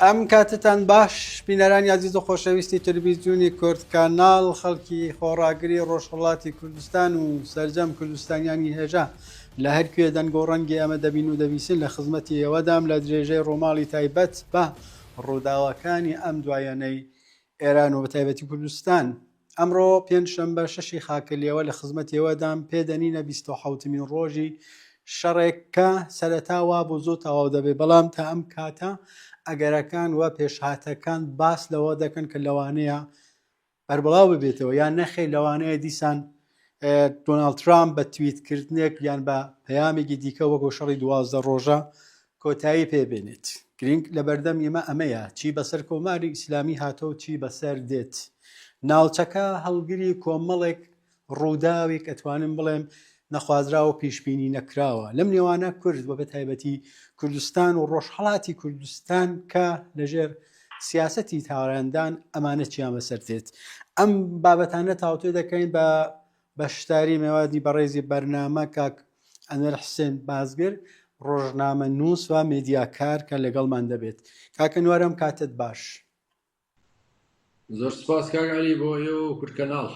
ئەم کاتتان باش بینەران یازیز و خۆشەویستی تلویزیونی کورد کانال خەڵکی خۆڕاگری ڕۆژهڵاتی کوردستان و سرجەم کوردستانیانی هێژا لە هەرکوێ دەنگ و ڕەنگی ئەمە دەبین و دەبیسن لە خزمەتی ئێوەدام لە درێژەی ڕۆماڵی تایبەت بە ڕووداوەکانی ئەم دوایەنەی ئێران و بەتایبەتی کوردستان. ئەمڕۆ پێنج شەمبە شەشی خاکلیەوە لە خزمەتیەوەدام پێدەنینە بیست و حەوتمین ڕۆژی شەڕێک کە سەرەتا وا بۆ زۆر تەواو دەبێت بەڵام تا ئەم کاتە ئەگەرەکان و پێشهاتەکان باس لەوە دەکەن کە لەوانەیە بەربڵاو ببێتەوە یان نەخێ لەوانەیە دیسان دۆناڵد ترامپ بە تویتکردنێک یان بە پەیامێکی دیکە وەکۆ شەڕی دوازدە ڕۆژە کۆتایی پێبێنێت گرنگ لە بەردەم ئێمە ئەمەیە چی بەسەر کۆماری ئیسلامی هاتۆ و چی بەسەر دێت ناوچەکە هەڵگری کۆمەڵێک ڕووداوێک ئەتوانم بڵێم نەخوازرا و پیشبینی نەکراوە لەم نێوانە کورد بە بە تایبەتی کوردستان و ڕۆژهڵاتی کوردستان کە لەژێر سیاسەتی تاوانەدان ئەمانە چیان بەسەر دێت ئەم بابەتانە تاوتێ دەکەین بە بەشداری مێوادی بەڕێزی بەرنامە کاک ئەنوەر حسێن بازگر ڕۆژنامە نووس و مێدیاکار کە لەگەڵمان دەبێت کاکە نوارم کاتت باش زۆر سپاس کاک علی بۆ ئێوە و کورد کەناڵ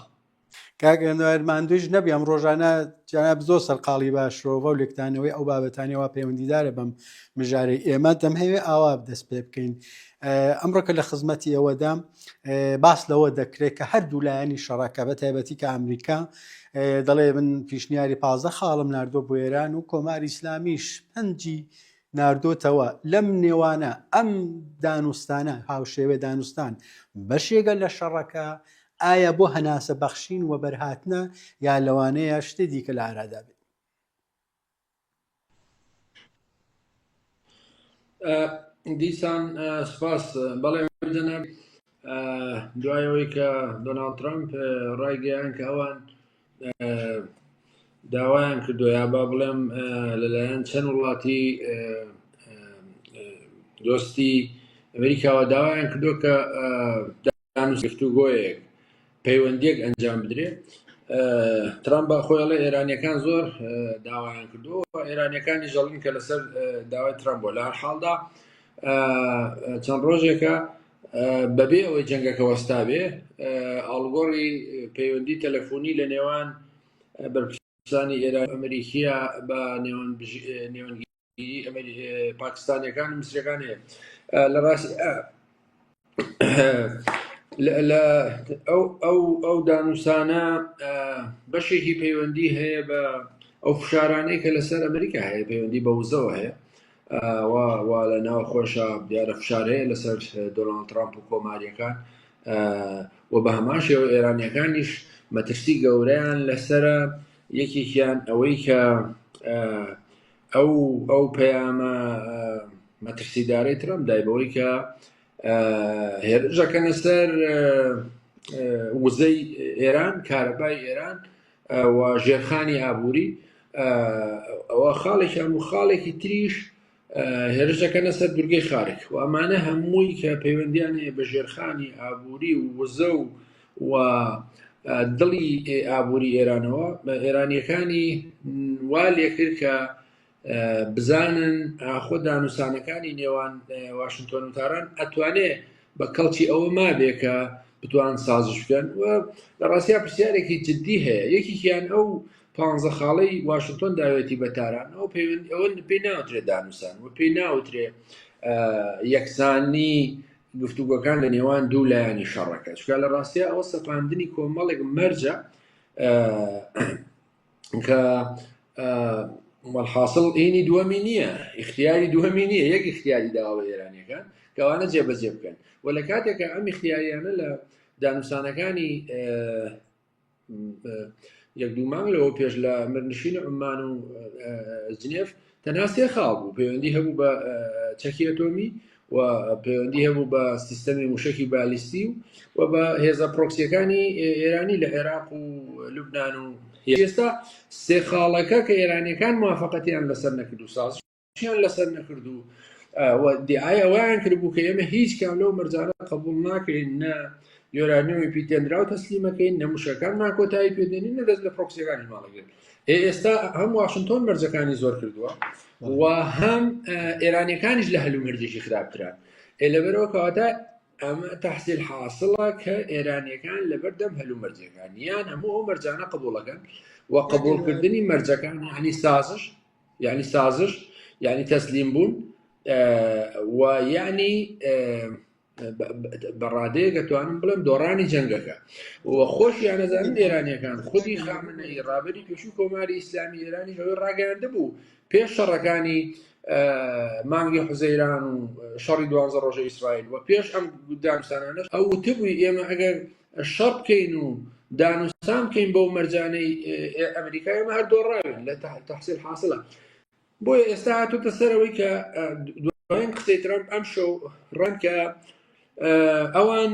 کاک ئەنوەر ماندوویش نەبی ئەم ڕۆژانە جناب زۆر سەرقاڵی بە شرۆڤە و لێکتانەوەی ئەو بابەتانەوە پەیوەندیدارە بەم مژارەی ئێمە دەمهەوێ ئاوا دەست پێ بکەین ئەمڕۆکە لە خزمەتی ئێوەدا باس لەوە دەکرێت کە هەردوو لایەنی شەڕەکە بە تایبەتی کە ئەمریکا دەڵێ من پیشنیاری پازە خاڵم نردۆ بۆ ئێران و کۆمار ئیسلامیش پەنجی ناردۆتەوە لەم نێوانە ئەم دانوستانە هاوشێوێ دانوستان بەشێگە لە شەڕەکە ئایا بۆ هەناسە بەخشین وەبەرهاتنە یا لەوانەیە شتی دیکە لە ئارادا بێت؟ دیسان سپاس بەڵێ جەناب دوایەوەی کە دۆناڵد ترامپ ڕایگەیان کە ئەوان داوایان کردو یا با بڵێم لەلایەن چەند وڵاتی دۆستی ئەمریکاوە داوایان کردو کە دانوگفتوگۆیەک پەیوەندیەک ئەنجام بدرێ ترامپ بە خۆیڵە ئێرانەکان زۆر داوایان کردو ئێرانەکانی ژەڵین کە لەسەر داوای ترامپ بۆ لە حاڵدا چەند ڕۆژێکە بەبێ ئەوەی جەنگەکە وەستابێ، ئاڵوگۆڕی پەیوەندی تەلەفونی لە نێوان بەرپرسانی ئێران و ئەمریکییە بە نێوەندگیری پاکستانییەکان و میسرییەکان هەیە. لە ڕاستیدا ئەو دانوسانە بەشێکی پەیوەندی هەیە بە ئەو فشارانەی کە لەسەر ئەمریکا هەیە، پەیوەندی بە وزەوە هەیە. ئەوا وا لە ناوخۆشە دیارە فشار هەیە لەسەر دۆناڵد ترامپ و کۆماریەکان و بە هەمان شێوە ئێرانیەکانیش مەترسی گەورەیان لەسرە یەکێکیان ئەوەی کە ئەو ئەو پەیامە مەترسیدارەی ترامپ دای بەوەی کە هێرشەکەنە سەر وزەی ئێران کارەبای ئێران و ژێرخانی ئابووری ئەوە خاڵێکیان و خاڵێکی تریش هێرشەکەنە سەر دورگەی خارک و ئەمانە هەمووی کە پەیوەندیانەیە بە ژێرخانی ئابووری و وزە و و دڵی ئابووری ئێرانەوە بە ئێرانیەکانی وا لێکرد کە بزانن ئاخۆ دانوسانەکانی نێوان واشنگتۆن و تاران ئەتوانێ بە کەڵکی ئەوە مابێ کە بتوان سازش بکەن و لە ڕاستیا پرسیارێکی جددی هەیە یەکیان ئەو پانزە خاڵی واشنگتۆن داوێتی بە تاران ئەو پەیوەند ئەوە پێی ناوترێ دانوسان و پێی ناوترێ یەکسانی گفتوگۆکان لە نێوان دوو لایانی شەڕەکە چکە لە ڕاستیا ئەوە سەپاندنی کۆمەڵێک مەرجە کە مەڵحاصل ئینی دووەمی نییە اختیاری دووەمی نییە یەک اختیاری داوە ئێرانەکان کەوانە جێبەجێ بکەن و لە کاتێکە ئەم اختیاریانە لە دانوسانەکانی یەک دوو مانگ لەوە پێش لە مرنشین عمان و جنێف تەنها سێ خاڵ بوو، پەیوەندی هەبوو بە چەکی ئەتۆمی و پەیوەندی هەبوو بە سیستەمی موشەکی بالیستی و بە هێزە پرۆکسیەکانی ئێرانی لە عێراق و لوبناان و ئێستا سێ خاڵەکە کە ئێرانەکان موافقەتیان لەسەر نەکرد و ساز شیان لەسەر نەکرد و دیعای ئەویان کردبوو کە ئێمە هیچ کام لەو مەرجانە قبول ناکەین نە یۆرانیۆمی پیتێنرا و تەسلیمەکەین نەموشەکان ناکۆتایی پێدێنین نە دەست لە پرۆکسیەکانی ماڵەگرن ئێ ئێستا هەم واشنتۆن مەرجەکانی زۆر کردووە و هەم ئێرانیەکانیش لە هەلومەرجێکی خراپتران ئێ لەبەرەوە کەواتە ئەمە تحصیل حاصلە کە ئێرانیەکان لەبەردەم هەلومەرجەکان یان هەموو ئەو مەرجانە قبولەکەن و قبولکردنی مەرجەکان هەنی سازش یعنی سازش یعنی تەسلیم بوون و یعنی بە ڕادەیەک دەتوانم بڵێم دۆڕانی جەنگەکە و خۆشیان نەزانن ئێرانیەکان خودی خامنەی ڕابری پێشوو کۆماری ئیسلامی ئێرانی هەوی ڕاگەاندە بوو پێش شەڕەکانی مانگی حزەیران و شەڕی دوانزە ڕۆژە ئیسرائیل و پێش ئەم دامسانانە ئەو وتبووی ئێمە ئەگەر شەڕ بکەین و دانوستان بکەین بەو مەرجانەی ئەمریکای ئەمە هەر دۆڕاوێن لە تحصیل حاصلە بۆیە ئێستا هاتۆتە سەرەوەی کە دوایین قسەی ترامپ ئەم شەو ڕەنکە ئەوان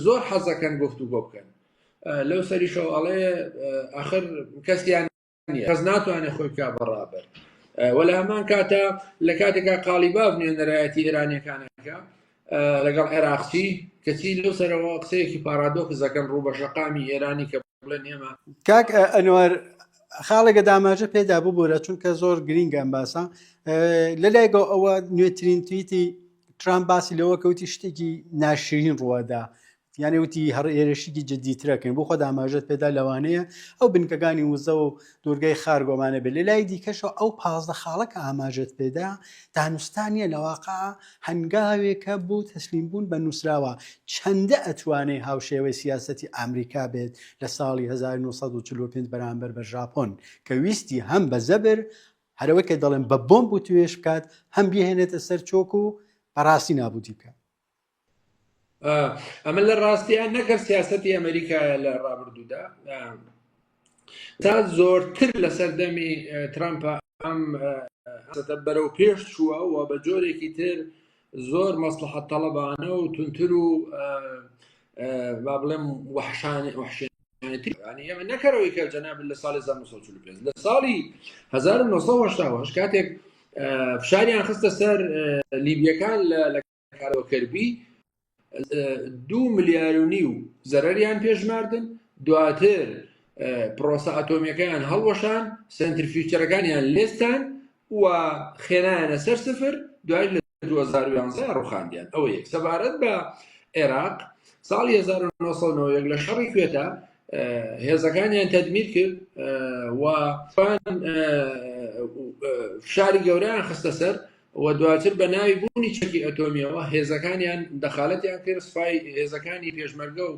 زۆر حەزەکەن گفتو بۆ بکەن لەو سەریشەوە ئەڵێ ئەخر کەسیان کەس ناتوانێ خۆی بکە بەڕابەر وەلا هەمان کاتە لە کاتێکا قاڵیباف نوێنەرایەتی ئێرانەکانەکە لەگەڵ عێراقچی کەچی لەو سەرەوە قسەیەکی پارادۆکزەکەن ڕوو بە شەقامی ئێرانی کە بڵێن ئێمە کاک ئەنوەر خاڵێکە داماژە پێدا ببوورە چونکە زۆر گرینگە ئەم باسە لەلایگە ئەوە نوێترین تویتی ترامپ باسی لەوە کەوتی شتێکی ناشرین ڕووادا یانەوتی هەڕ ئێرشیکی جددیترەکەین بۆ خۆ داماژت پێدا لەوانەیە ئەو بنکەکانی وزە و دوورگەی خار گۆمانە بێت لەلای دیکەشەوە ئەو پازدە خاڵە کە ئاماژەت پێدا دانوستان نیە لەواقع هەنگاوێکە بۆ تەسلیم بوون بە نووسراوە چەندە ئەتوانێ هاوشێوەی سیاسەتی ئامریکا بێت لە ساڵی 1945 بەرامبەر بە ژاپۆن کە ویستی هەم بە زەبر هەرەوەی کە دەڵێن بە بۆمب و توێش بکات هەم بیهێنێتە سەر چۆک و بەڕاستی نابودی بکات ئەمە لە ڕاستیان نەکە سیاستی ئەمریکایە لە ڕابردوودا تا زۆرتر لە سەردەمی ترامپ ئەم بەرەو پێش چووە و بە جۆرێکی تر زۆر مەسلحەت تەڵەبانە و تونتر و با بڵێم وحشانی وحشێن ئەمە نەکەرەوەی کە جەناب لە ساڵی 1945 لە ساڵی 1970 کاتێک فشاریان خستە سەر لیبیەکان لە کارەوە کەربی دوو ملیار و نیو زەرەریان پێشماردن دواتر پرۆسە ئەتۆمیەکەیان هەڵوەشان سنتر فیوچەرەکانیان لێستان و خێنایانە سەر سفر دوای لە 2011 ڕوخاندیان ئەوە یەک سەبارەت بە عێراق ساڵی 1990 لە شەڕی کوێتە هێزەکانیان تەدمیر کرد و فشاری گەوریان خستە سەر و دواتر بە ناوی بوونی چەکی ئەتۆمیەوە هێزەکانیان دەخالەتیان کرد سوپای هێزەکانی پێشمەرگە و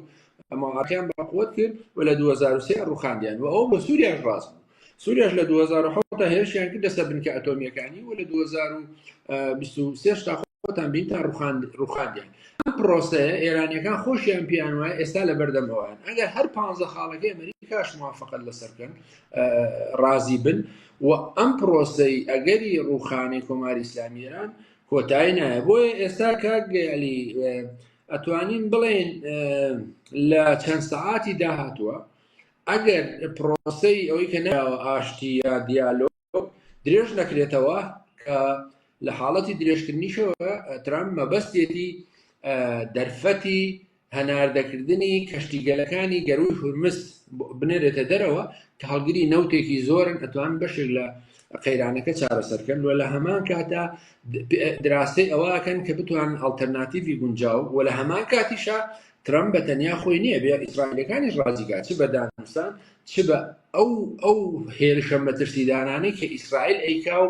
ماڵاتیان بەقوت کرد و لە 2023 ڕوخاندیان و ئەو بە سووریاش ڕاست بوو سووریاش لە 2010 تا هێرشیان کرد لەسەر بنکە ئەتۆمیەکانی و لە 2023 تا خۆتان بین تا ڕوخاندیان ئەم پرۆسەیە ئێرانیەکان خۆشیان پیان وایە ئێستا لە بەردەمەوەیان ئەگەر هەر پ خاڵەکەی ئەمریکاش موافقت لەسەر بکەن ڕازی بن و ئەم پرۆسەی ئەگەری ڕوخانی کۆماری ئیسلامی ئێران کۆتایی نایە بۆیە ئێستا کاگەلی ئەتوانین بڵێن لە چەند سەعاتی داهاتووە ئەگەر پرۆسەی ئەوەی کە ناوە ئاشتی یا دیالۆ درێژ نەکرێتەوە کە لە حاڵەتی درێژکردنیشەوە ترام مەبەستێتی دەرفەتی هەناردەکردنی کەشتیگەلەکانی گەروی هورمز بنێرێتە دەرەوە کە هەڵگری نەوتێکی زۆرن ئەتوان بەشێک لە قەیرانەکە چارەسەرکەن و لە هەمان کاتە دراسی ئەوەکەن کە بتوان ئەلتەرناتیڤی گونجاو و لە هەمان کاتیشە ترم بە تەنیا خۆی نییە بێ ئیسرائیلەکانی ڕازیگا چ بەدانسان چ بە ئەو ئەو هێرشە مەترسیدانانەی کە ئیسرائیل ئەیکا و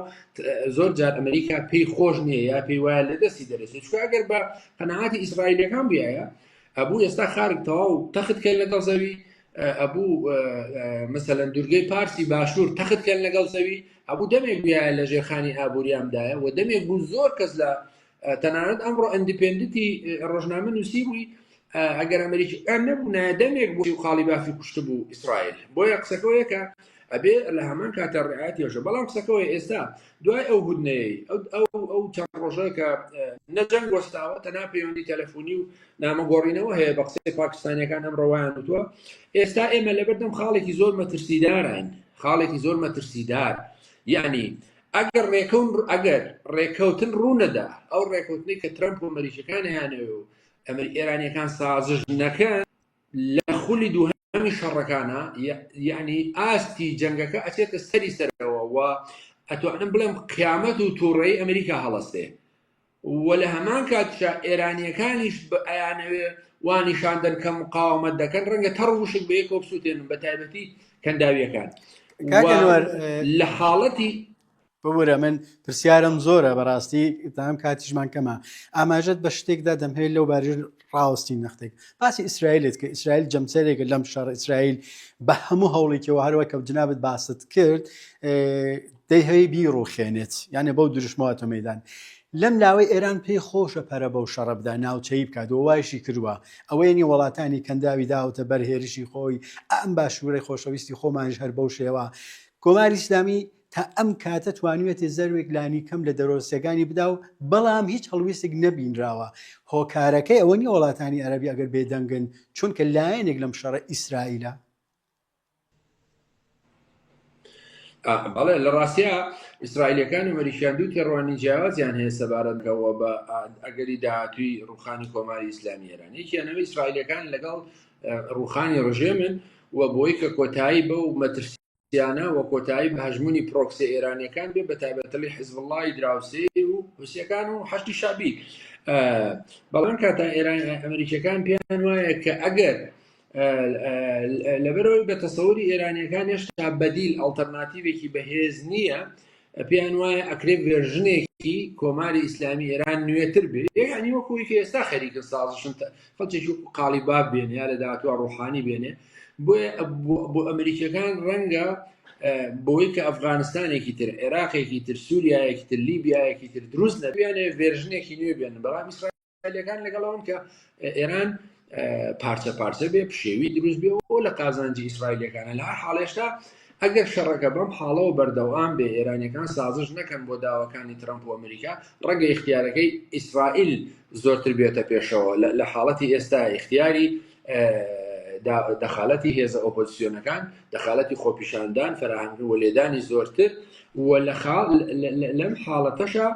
زۆر جار ئەمریکا پێی خۆش نییە یا پێی وایە لە دەستی دەرەێت چکە ئەگەر بە قەنەعاتی ئیسرائیلەکان بایە ئەبوو ئێستا خارک تەواو تەخت کە لەگەڵ زەوی ئەبوو مەسەەن دوورگەی پارسی باشوور تەخت کە لەگەڵ زەوی ئەبوو دەمێک بایە لە ژێرخانی ئابووریامدایە و دەمێک بوو زۆر کەس لە تەنانەت ئەمڕۆ ئەندیپندنتی ڕۆژنامە نووسی بووی ئەگەر ئەمریکی ئەم نەبوو نادەمێک بۆی و خاڵی بافی کوشت بوو ئیسرائیل بۆیە قسەکەەوەیەکە ئەبێ لە هەمان کاتە ڕعاتیێژە بەڵام قسەکەەوەی ئێستا دوای ئەو هودنەیە ئەو ئەو چەند ڕۆژەکە نەجەنگ وەستاوە تەنا پەیوەندی تەلەفۆنی و نامەگۆڕینەوە هەیە بە قسەی پاکستانیەکان ئەم ڕەوایان وتووە ئێستا ئێمە لەبەردەم خاڵێکی زۆر مەترسیداراین خاڵێکی زۆر مەترسیدار یعنی ئەگەر ڕێکەون ئەگەر ڕێکەوتن ڕوونەدا ئەو ڕێکەوتنی کە ترەمپ و مەریشەکان هیانەوێ و ئەمر ئێرانیەکان سازش نەکەن لە خولی دوو هەمی شەڕەکانە یعنی ئاستی جەنگەکە ئەچێتە سەری سەرەوە و ئەتوانم بڵێم قیامەت و تووڕێی ئەمریکا هەڵەستێ و لە هەمان کاتیشا ئێرانییەکانیش بە ئەیانەوێ وا نیشان دەن کە مقاومەت دەکەن ڕەنگە تەڕ وشک بە یەکەوە بسووتێنن بە تایبەتی کەنداویەکان کاک و ئەنوەر، اه، لە حاڵەتی ببورە من پرسیارم زۆرە بەڕاستی تام کاتیشمان کەمە ئاماژەت بە شتێکدا دەمهەوێت لەو بارژ ڕاوەستی نەختێک باسی ئیسرائیلت کە ئیسرائیل جەمسەرێکە لەم شەڕ ئیسرائیل بە هەموو هەوڵێکەوە هەروە کە جنابەت باست کرد دەی هەی بیڕوخێنێت یانە بەو دروشمەوەتە مەدان لەم لاوەی ئێران پێی خۆشە پەرە بەو شەڕە بدا ناوچەی بکات و وایشی کردووە ئەوەیەنی وڵاتانی کەنداوی داوتە بەر هێرشی خۆی ئەم باشوورەی خۆشەویستی خۆمانش هەر بەو شێوە کۆماری ئسلامی تا ئەم کاتە توانیویەتی زەروێک لانیکەم لە دەرۆستەکانی بدا و بەڵام هیچ هەڵویستێک نەبینراوە هۆکارەکەی ئەوە نیە وڵاتانی عەرەبی ئەگەر بێدەنگن چونکە لایەنێک لەم شەڕە ئیسرائیلە. بەڵێ لە ڕاستیا ئیسرائیلەکان و مەریشیان دوو تێڕوانی جیاوازیان هەیە سەبارەت بەوە بە ئەگەری داهاتووی ڕوخانی کۆماری ئیسلامی ئێران یەکیانەوە ئیسرائیلەکان لەگەڵ ڕوخانی ڕژێمن و بۆی کە کۆتایی بەو مەترسی درووسیانە و کۆتایی بە هەژموونی پرۆکسیە ئێرانیەکان بێ بەتایبەتلی حزبوڵڵای دراوسێی و حوسیەکان و حەشتی شەعبی بەڵام کاتا ئێران ئەمریکیەکان پێیان وایە کە ئەگەر لەبەرەوەی بە تەسەوری ئێرانیەکان هێشتا بەدیل ئەڵتەرناتیوێکی بەهێز نییە پێیان وایە ئەکرێ ڤێرژنێکی کۆماری ئیسلامی ئێران نوێتر بێ یعنی وەکوی کە ئێستا خەریکن سازشن خەڵکێکی وەکو قاڵی باب بێن یا لە داهاتوە ڕوحانی بێنێ بۆیە بۆ ئەمریکیەکان ڕەنگە بۆی کە ئەفغانستانێکی تر عێراقێکی تر سووریایەکی تر لیبیایەکی تر دروست نەبیانێ ڤێرژنێکی نوێ بێنن بەڵام ئیسرائیل ئیسرائیلەکان لەگەڵ ئەوەن کە ئێران پارچە پارچە بێ پشێوی دروست بێ و لە قازانجی ئیسرائیلەکانە لە هەر حاڵێشتا ئەگەر شەڕەکە بەم حاڵەوە بەردەوام بێ ئێرانەکان سازش نەکەن بۆ داواکانی ترامپ و ئەمریکا ڕەگە اختیارەکەی ئیسرائیل زۆرتر بێتە پێشەوە لە حاڵەتی ئێستا اختیاری دەخالەتی هێزە ئۆپۆزیسیۆنەکان دەخالەتی خۆپیشاندان فراهانکردن و لێدانی زۆرتر و لە خاڵ لەم حاڵەتەشە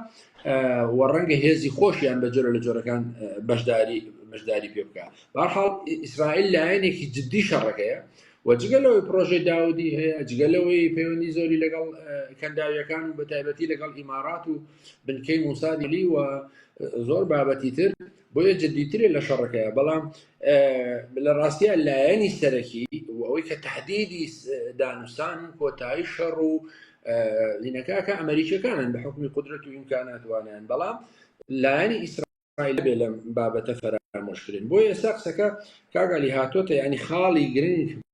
و ڕەنگە هێزی خۆشیان بە جۆرە لە جۆرەکان بەشداری بەشداری پێ بکە بەحاڵ ئیسرائیل لایەنێکی جددی شەڕەکەیە و جگە لەوەی پرۆژەی داودی هەیە جگە لەوەی پەیوەندی زۆری لەگەڵ کەنداویەکان و بە تایبەتی لەگەڵ ئیمارات و بنکەی موسادلی و زۆر بابەتی تر بۆیە جدیترە لە شەڕەکەیە بەڵام لە ڕاستیە لایەنی سەرەکی و ئەوەی کە تهدیدی دانوستان و کۆتایی شەڕ و لینەکەکە ئەمریکەکانن بە حکومی قدرەت و ئیمکاناتوانیان بەڵام لایەنی ئیسرائیل بێ لەم بابەتە فەرامۆشکرێن بۆ ئێستا قسەکە کاگالی هاتۆتە ینی خاڵی گرنگ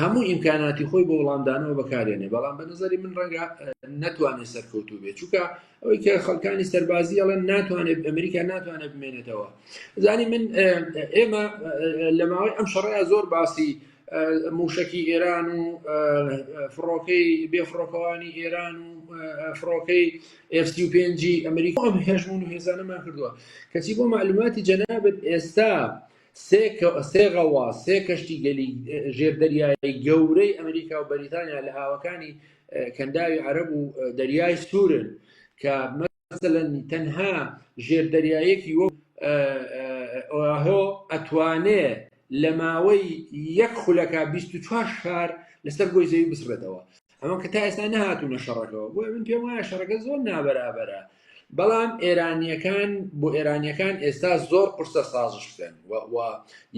هەموو ئیمکاناتی خۆی بۆ وڵامدانەوە بەکارێنێ بەڵام بە نظری من ڕەنگە ناتوانێت سەرکەوتو بێت چووکە ئەوەی کە خەڵکانی سەربازی ئەڵێن ناتوانێت ئەمریکا ناتوانێت بمێنێتەوە زانی من ئێمە لە ماوەی ئەم شەڕەیە زۆر باسی موشکی ئێران و فڕۆکەی بێفڕۆکەوانی ئێران و فڕۆکەی F-5 ئەمریکا ئەم هێژمون و هێزانەمان کردووە کەچی بۆ معلوماتی جەنابەت ئێستا سێ غەوا، سێ کەشتیگەلی ژێردەریایی گەورەی ئەمریکا و بەریتانیا لە هاوەکانی کەنداوی عەرەب و دەریای سوورن کە مەسەلەن تەنها ژێردەریایەکی وەک ئۆاهۆ ئەتوانێ لە ماوەی یەک خولەکا بیست و چوار شار لەسەر گۆی زەوی بسڕێتەوە. ئەوە کە تا ئێستا نەهاتوونە شەڕەکەەوە بۆ من پێم وایە شەڕەکە زۆر نابەرابەرە بەڵام ئێرانیەکان بۆ ئێرانیەکان ئێستا زۆر قرسە سازش بکەن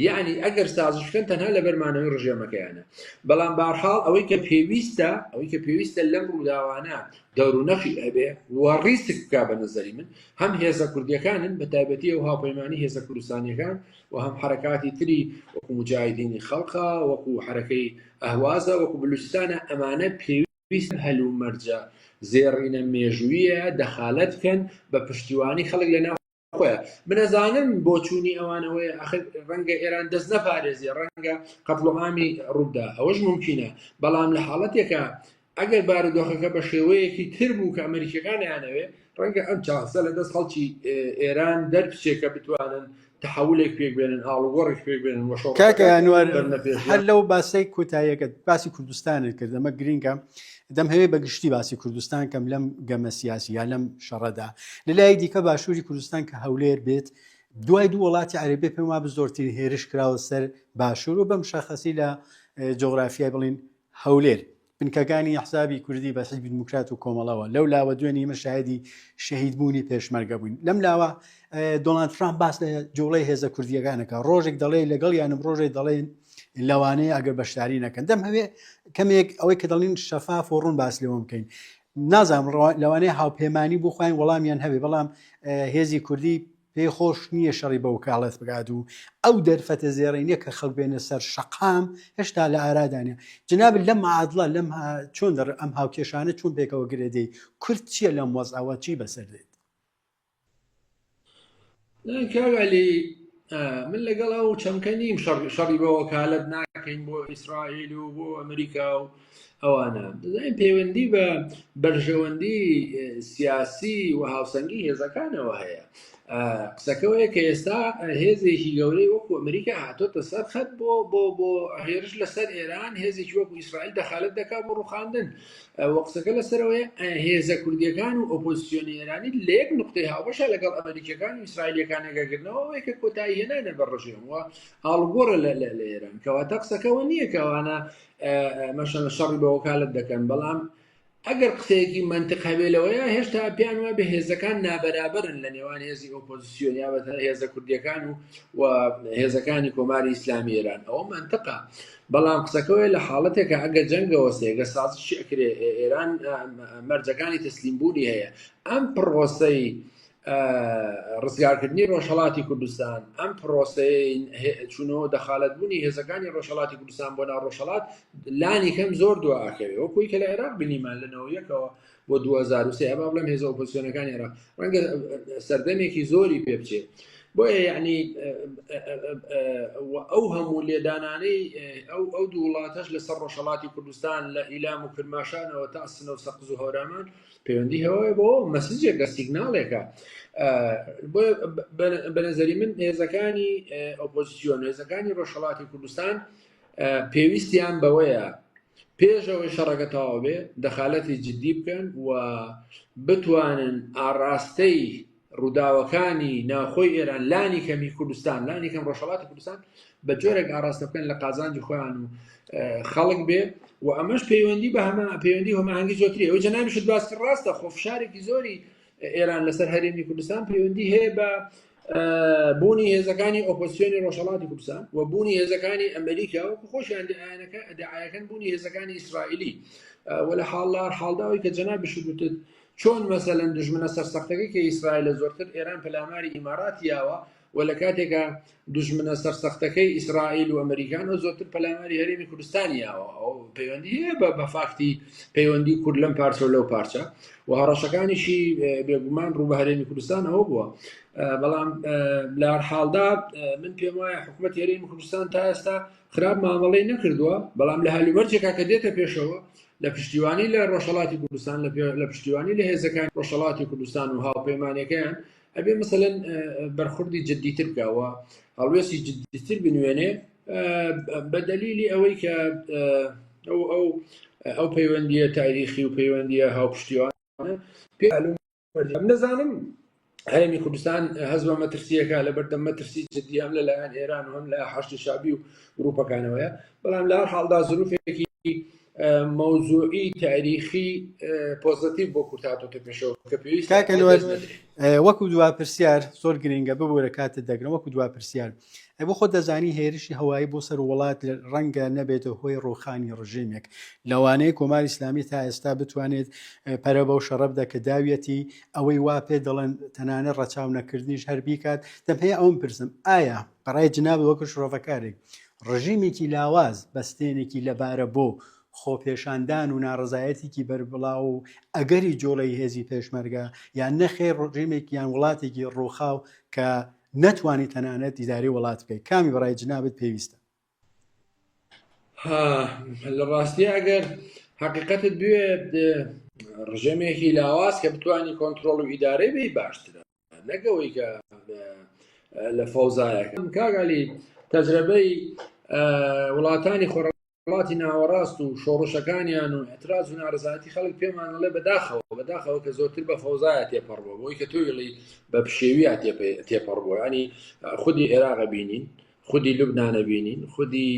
یعنی ئەگەر سازش بکەن تەنها لە بەرمانەوەی ڕژێمەکەیانە بەڵام بارحاڵ ئەوەی کە پێویستە ئەوەی کە پێویستە لەم ڕووداوانە دەور و نەخی ئەبێ و ڕیسک بک بە نظری من هەم هێزە کوردیەکانن بە تایبەتی و هاوپەیمانانی هێزە کوردستانیەکان و هەم حەرەکاتی تری وەکو موجاهیدینی خەڵقە وەکو حەرەکەی ئەهوازە وەکو بلوچستانە ئەمانە پێوی ویست هەل و مەرجە زێڕینە مێژوویە دەخالەت بکەن بە پشتیوانی خەڵک لە ناو خۆیان منەزانم بۆ چوونی ئەوانەوەی ئەخر ڕەنگە ئێران دەست نەپارێزی ڕەنگە قەتڵۆعامی ڕوودا ئەوەش ممکنە بەڵام لە حاڵەتێکە ئەگەر بارودۆخەکە بە شێوەیەکی تر بوو کە ئەمریکیەکان یانەوێ ڕەنگە ئەم چاسە لە دەست خەڵکی ئێران دەرچێکە بتوانن تحولێک پێک بێنن ئاڵوگۆڕێک پێک بێنن وەشەکەیانوار هەر لەو باسی کوتایەکە باسی کوردستانت کرد ئەمە گرینگە دەم هەوێ بە گشتی باسی کوردستان کەم لەم گەمە سیاسی یا لەم شەڕەدا لە لای دیکە باشووری کوردستان کە هەولێر بێت دوای دوو وڵاتی عربێ پێم وا بە زۆرترین هێرش کراوە سەر باشوور و بەم شەخصی لە جۆگرافیای بڵین هەولێر، بنکەکانی ئەحزابی کوردی بە حیزبی دیموکرات و کۆمەڵەوە، لەو لاوە دوێنێ ئێمە شاهیدی شەهیدبوونی پێشمەرگە بووین، لەم لاوە دۆناڵد ترامپ باس لە جوڵەی هێزە کوردییەکان دەکات، ڕۆژێک دەڵێ لەگەڵیانم، ڕۆژێک دەڵێن لەوانەیە ئەگەر بەشداری نەکەن. دەمهەوێ کەمێک ئەوەی کە دەڵێن شەفاف و ڕوون باس لێوە بکەین. نازانم ڕەوا- لەوانەیە هاوپەیمانانی بۆ خۆیان وەڵامیان هەبێ، بەڵام اه، هێزی کوردی پێی خۆش نییە شەڕی بە وکاڵەت بکات و ئەو دەرفەتە زێڕینە کە خەڵک بێنە سەر شەقام هێشتا لە ئارادا نیە. جەنابت لەم معادڵە لەم چۆن دەڕ ئەم هاوکێشانە چۆن پێکەوە گرێدێی؟ کورد چییە لەم وەزعەوە چی بەسەر دێت؟ کاک عەلی من لەگەڵ ئەو چەمکە نیم شەڕی بە وەکالەت ناکەین بۆ ئیسرائیل و بۆ ئەمریکا و ئەوانە دەزانین پەیوەندی بە بەرژەوەندی سیاسی و هاوسەنگی هێزەکانەوە هەیە قسەکەەوەیە کە ئێستا هێزێکی گەورەی وەکو ئەمریکا هاتۆتە سەر خەت بۆ بۆ بۆ هێرش لەسەر ئێران هێزێکی وەکو ئیسرائیل دەخالت دەکات بۆ ڕوخاندن وە قسەکە لەسەرەوەی هێزە کوردیەکان و ئۆپۆزیسیۆنی ئێرانی لە یەک نقطەی هاوبەشە لەگەڵ ئەمریکەکان و ئیسرائیلەکانەگەگرنەوە وەیکە کۆتایی هێنانە بە ڕژێم وە ئاڵگۆڕە لە لە ئێران کەواتە قسەکەەوە نییە کەوانە مەشەنە شەڕی بە وەکالت دەکەن بەڵام ئەگەر قسەیەکی منتق هەبێ لەوەیە هێشتا پێیان وە بە هێزەکان نابەرابرن لە نێوان هێزی ئۆپۆزیسیۆن یا بەتە هێزە کوردیەکان و و هێزەکانی کۆماری ئیسلامی ئێران ئەوە منتقا بەڵام قسەکەوەی لە حاڵەتێکە ئەگە جەنگەوە سێگە سازشکرێ ئێران مەرجەکانی تەسلیم بوونی هەیە ئەم پڕۆسەی ڕزگارکردنی ڕۆژهڵاتی کوردستان ئەم پرۆسەیە چونەوە دەخالەتبوونی هێزەکانی ڕۆژهڵاتی کوردستان بۆ ناو ڕۆژهڵات لانی کەم زۆر دواکەوێت وەکوی کە لە عێراق بینیمان لەنەوە یەکەوە بۆ 2023 ئەبا بڵێم هێزە ئۆپۆسیۆنەکانی عێراق ڕەنگە سەردەمێکی زۆری پێ بچێت بۆیە یعنی ئەو هەموو لێدانانەی ئەو ئەو دوو وڵاتەش لەسەر ڕۆژهڵاتی کوردستان لە ئیلام و کرماشانەوە تا سنە و سەقز و هەورامان و پەیوەندی هەوایە بۆ مەسجێکە سیگناڵێکە بەنەزەری من هێزەکانی ئۆپۆزیسیۆن هێزەکانی ڕۆژهڵاتی کوردستان پێویستیان بەوەیە پێشەوەی شەڕەکە تەواو بێ دەخالەتی جددی بکەن و بتوانن ئاڕاستەی ڕووداوەکانی ناوخۆی ئێران لانی کەمی کوردستان لانی کەم ڕۆژهڵاتی کوردستان بە جۆرێک ئاراستە بکەن لە قازانجی خۆیان و خەڵک بێ و ئەمەش پەیوەندی بە هەمە پەیوەندی هەماهنگگی زۆتری ئەو جەنامیش دواستر ڕاستە خۆ فشارێکی زۆری ئێران لەسەر هەرێمی کوردستان پەیوەندی هەیە بە بوونی هێزەکانی ئۆپۆسیۆنی ڕۆژهڵاتی کوردستان و بوونی هێزەکانی ئەمریکا و خۆشیان دەیانەکە دەعاەکەن بوونی هێزەکانی ئیسرائیلی وە لە حاڵدار حاڵداوی کە جەنا بشوتت چۆن مەسەلەن دوژمنە سەرسەختەکەی کە ئیسرائیلە زۆرتر ئێران پەلاماری ئیماراتی یاوە و لە کاتێکا دوژمنە سەرسەختەکەی ئیسرائیل و ئەمریکان و زۆرتر پەلاماری هەرێمی کوردستانی یاوە ئەو پەیوەندی هەیە بە بەفاکتی پەیوەندی کورد لەم پارچە و لەو پارچە و هەڕەشەکانیشی بێگومان ڕوو بە هەرێمی کوردستان ئەوە بووە بەڵام لە حاڵدا من پێم وایە حکوومەت هەرێمی کوردستان تا ئێستا خراپ مامەڵی نەکردووە بەڵام لە هەلومەرجێکا کە دێتە پێشەوە لە پشتیوانی لە ڕۆژهەڵاتی کوردستان لە پشتیوانی لە هێزەکان ڕۆژهڵاتی کوردستان و هاوپەیمانەکەیان ئەبێ مثلەن بەرخوردی جددیتر بکەوە هەڵوێستی جددیتر بنوێنێ بە دەلیلی ئەوەی کە ئەو ئەو ئەو پەیوەندیە تاریخی و پەیوەندیە هاوپشتیوان پێلوم بەردەم نەزانم هەرێمی کوردستان هەز بە مەترسیەکە لە بەردەم مەترسی جددی هەم لە لایەن ئێران و هەم لە حشتی شابی و گروپەکانەوەە بەڵام لە حاڵدا زروفێکی مەوزوعی تاریخی پۆزیتیو بۆ کورتاتۆتە پێشەوە کە پێویست وەکو دوا پرسیار زۆر گرنگە ببوورە کاتت دەگرم وەکو دوا پرسیار ئەی بۆ خۆ دەزانی هێرشی هەوایی بۆ سەر وڵات ڕەنگە نەبێتە هۆی ڕوخانی ڕژێمێک لەوانەیە کۆماری ئسلامی تا ئێستا بتوانێت پەرە بەو شەڕە بدە کە داویەتی ئەوەی وا پێ دەڵێن تەنانە ڕەچاو نەکردنیش هەر بیکات دەم پێ ئەوم پرسم ئایا بەڕای جناب وەکو شڕۆڤەکارێک ڕژیمێکی لاواز بەستێنێکی لەبارە بۆ خۆپێشاندان و ناڕزایەتێکی بەربڵاو و ئەگەری جۆڵی هێزی پێشمەرگە یان نەخێ ڕژێمێک یان وڵاتێکی ڕووخاو کە نەتوانی تەنانەت دیداری وڵات بکەی کامی بەڕای جنابت پێویستە؟ ها لە ڕاستیە ئەگەر حقیقەتت بوێت ڕژێمێکی لاواز کە بتانی کۆنتترۆڵ و ئیدارەی بی باشترە نەگەوەی کە لە فەوزایەکەم کاگالی تەجربەی وڵاتانی خۆڕ ڕۆژهەڵاتی ناوەڕاست و شۆڕشەکانیان و ئەتراز و نارزایەتی خەڵک پێمانەڵێ بەداخەوە بەداخەوە کە زۆرتر بە فەوزایە تێپەڕبووە بۆی کە تۆیڵی بە پشێویە تێپەڕبووە ینی خودی عێراقە بینین خودی لوبناە بینین خودی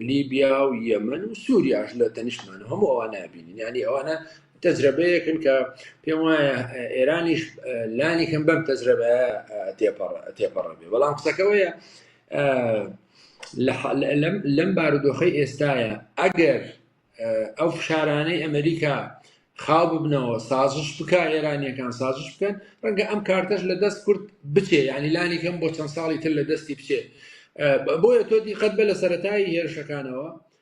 لیبیا و یەمن و سووریاش لە تەنیشتمان هەموو ئەوە نابینین ینی ئەوانە تەجربەیەکن کە پێم وایە ئێرانیش لانی کەم بەم تەجربە تێپەڕ تێپەڕ بێ بەڵام قسەکەەوەیە لەم بارودۆخی ئێستاە ئەگەر ئەو فشارانەی ئەمریکا خاو ببنەوە سازش بک ئێرانیەکان سازش بکەن ڕەنگە ئەم کارتەش لە دەست کورد بچێ ینی لانی کەم بۆ چەند ساڵی تر لە دەستی بچێ بۆیە تۆ دیقەت بە لە سەتایی هێرشەکانەوە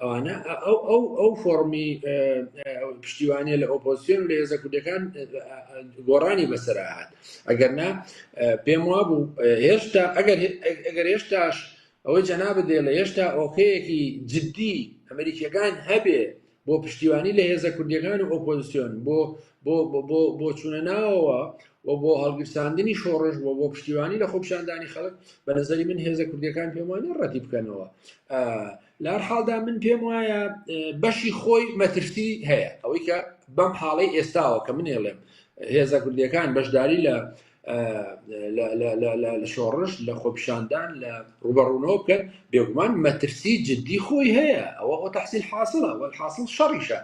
ئەوانە ئەو ئەو ئەو فۆڕمی پشتیوانە لە ئۆپۆزیۆن لە هێزە کوردەکان گۆڕانی بەسەرهات ئەگەر نا پێم وا بوو هێشتا ئەگەر هێشتاش ئەوەی جەنابە دێ لە هێشتا ئۆخەیەکی جددی ئەمریکیەکان هەبێ بۆ پشتیوانی لە هێزە کوردیەکان و ئۆپۆزیسیۆن بۆ بۆ چونە ناوەوە و بۆ هەڵگیرساندنی شۆڕش بۆ بۆ پشتیوانی لە خۆپشاندانی خەڵک بە نظری من هێزە کوردەکان پێم وانە ڕەتی بکەنەوە لار حاڵدا من پێم وایە بەشی خۆی مەترسی هەیە ئەوەی کە بەم حاڵی ئێستاوە کە منێڵێم هێزە کوردەکان بەشداری لە لە شۆڕش لە خۆپیشاندان لە ڕوبەڕوونەوە بکەن بێگومان مەترسی جددی خۆی هەیە ئەوە ئەو تحسیل حاصلە وە حاصل شەڕیشە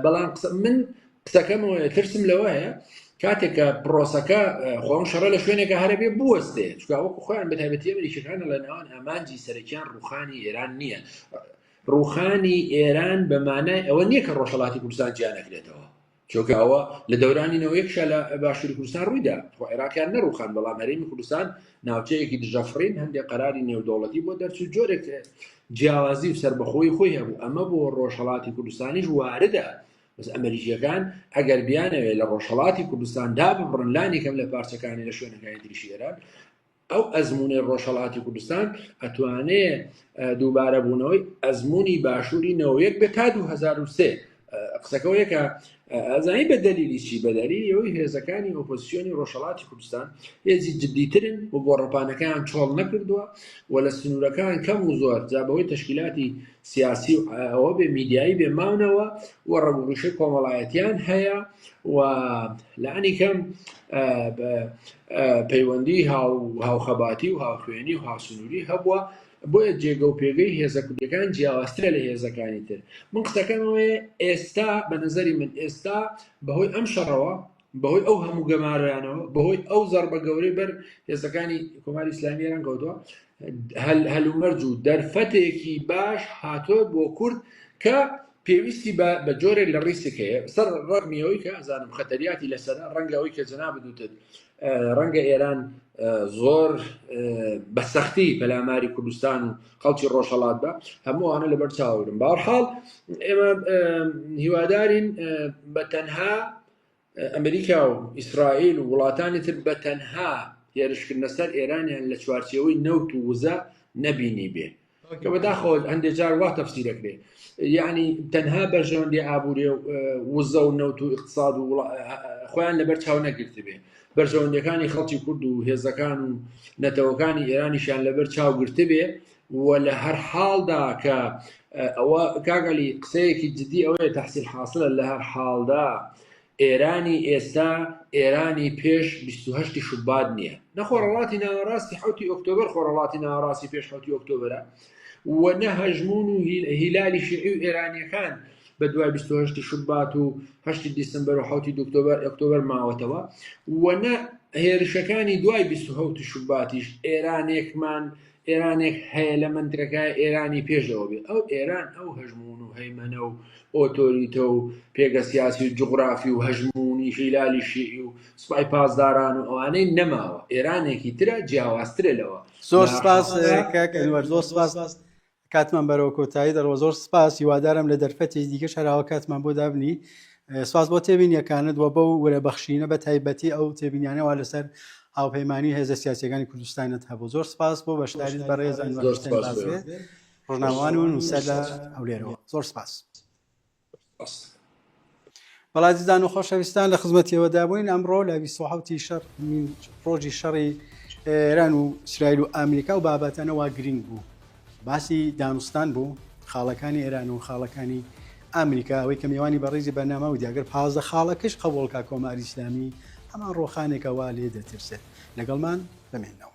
بەڵام قسە من قسەکەمەوە ترسم لەوە هەیە کاتێکە پرۆسەکە خۆم شەڕە لە شوێنێکە هەرەبێ بوەستێ چکا وەکو خۆیان بەتابەتی ئەمریکەکان لە ناوان ئامانجی سەرەکیان ڕوخانی ئێران نییە ڕوخانی ئێران بەمانای ئەوە نییە کە ڕۆژهڵاتی کوردستان جیانەکرێتەوە چونکە ئەوە لە دەورانی نەوەیەک شا لە باشووری کوردستان ڕوویدا خۆ عێراقیان نەڕوخان بەڵام هەرێمی کوردستان ناوچەیەکی دژەفڕین هەندێک قەراری نێودەوڵەتی بۆ دەرچوو جۆرێک جیاوازی و سربەخۆی خۆی هەبوو ئەمە بۆ ڕۆژهڵاتی کوردستانیش واردە بەس ئەمریکیەکان ئەگەر بیانەوێت لە ڕۆژهڵاتی کوردستان دابڕن لانی کەم لە پارچەکانی لە شوێنەکانی دریشی ئێران ئەو ئەزموونەی ڕۆژهەڵاتی کوردستان ئەتوانێ دووبارە بوونەوەی ئەزمموی باشووری نەوەیەک بێت تا 2023 قسەکەەوە یەکە ئەزانی بە دەلیلیشی بەدەری ئەوەی هێزەکانی ئۆپۆسیۆنی ڕۆژهڵاتی کوردستان هێزی جددیترن و گۆڕەپانەکەیان چۆڵ نەکردووە و لە سنوورەکان کەم و زۆر جا بەوەی تشکیلاتی سیاسی و ئەوە بێ میدیایی بێ ماونەوە و ڕەگوڕشە کۆمەڵایەتیان هەیە و لانی کەم پەیوەندی هاوخەباتی و هاوخوێنی و هاسنووری هەبووە بۆیە جێگە و پێگەی هێزە کوردەکان جیاوازترە لە هێزەکانی تر من قسەکەمەوەی ئێستا بە نظری من ئێستا بەهۆی ئەم شەڕەوە بەهۆی ئەو هەموو گەمارۆیانەوە بەهۆی ئەو زەربە گەورەی بەر هێزەکانی کۆماری ئسلامی ئێران کەوتووە هەلومەرج و دەرفەتێکی باش هاتۆ بۆ کورد کە پێویستی بە جۆرێک لە ڕیسک هەیە سەر ڕەگمیەوەی کە ئازانم خەتەریاتی لەسەر ڕەنگە ئەوی کە جنا بدوتت ڕەنگە ئێران زۆر بە سەختی پەلاماری کوردستان و خەڵکی ڕۆژهڵات بە هەمووانە لەبەر چاوەگرم باوەحاڵ ئێمە هیوادارین بە تەنها ئەمریکا و ئیسرائیل و وڵاتانی تر بە تەنها هێرشکردنە سەر ئێرانیان لە چوارچێوەی نەوت و وزە نەبینیبێ کە بەداخەوە هەندێک جار وا تەفسی دەکرێت یعنی تەنها بەرژەوەندی ئابووری و وزە و نەوت و اقتصاد و خۆیان لەبەر چاو نەگرتبێ بەرژەوەندەکانی خەڵکی کورد و هێزەکان و نەتەوەکانی ئێرانیشان لەبەر چاو گرتبێ وە لە هەر حاڵدا کە ئەوە کاک علی قسەیەکی جدی ئەوەیە تحصیل حاصلە لە هەر حاڵدا ئێرانی ئێستا ئێرانی پێش 28 شوبات نییە نە خۆڕەڵاتی ناوەڕاستی حوتی ئۆکتۆبر خۆڕەڵاتی ناوەڕاستی پێش حوتی ئۆکتۆبرە و نە هەژمون و هیلالی شیعی و ئێرانیەکان بە دوای 28 شوبات و 8 دیسمبر و حوتی دکتۆبر ئۆکتۆبر ماوەتەوە و نە هێرشەکانی دوای 20 شوباتیش ئێرانێکمان ئێرانێک هەیە لە مەنتەکە ئێرانی پێش ئەوە بێ ئەو ئێران ئەو هەژمون و هەیمەنە و ئۆتۆریتە و پێگە سیاسی و جغرافی و هەژمونی هیلالی شیعی و سوپای پاسداران و ئەوانەی نەماوە ئێرانێکی ترە جیاوازترە لەوە زۆر سپاس زۆر سپاس کاتمان بەرەوە کۆتایی دەڕەوە زۆر سپاس هیوادارم لە دەرفەتی دیکە شەراوە کاتمان بۆ دابنی سپاس بۆ تێبینیەکانت و بەو ورە بەخشینە بە تایبەتی ئەو تێبینیانەوە لەسەر هاوپەیمانی هێزە سیاسەکانی کوردستانت هەبوو زۆر سپاس بۆ بەشداریت بە ڕێز ڕژناوان و نووسەر لە هەولێرەوە زۆر سپاس بەڵازیزان و خۆشەویستان لە خزمەتیەوەدا بووین ئەمڕۆ لە 1970 شەر ڕۆژی شەڕی ئێران و سرایل و ئەمریکا و بابەتەنەوە گرنگ بوو باسی دانوستان بوو خاڵەکانی ئێران و خاڵەکانی ئەمریکا ئەوەی کە میوانی بەڕیزی بەنامە و دیاگەر پازدە خاڵەکەش قەوڵکە کۆماری ئسلامی هەمان ڕۆخانێکەوە لێ دەترسێت لەگەڵمان بمێنەوە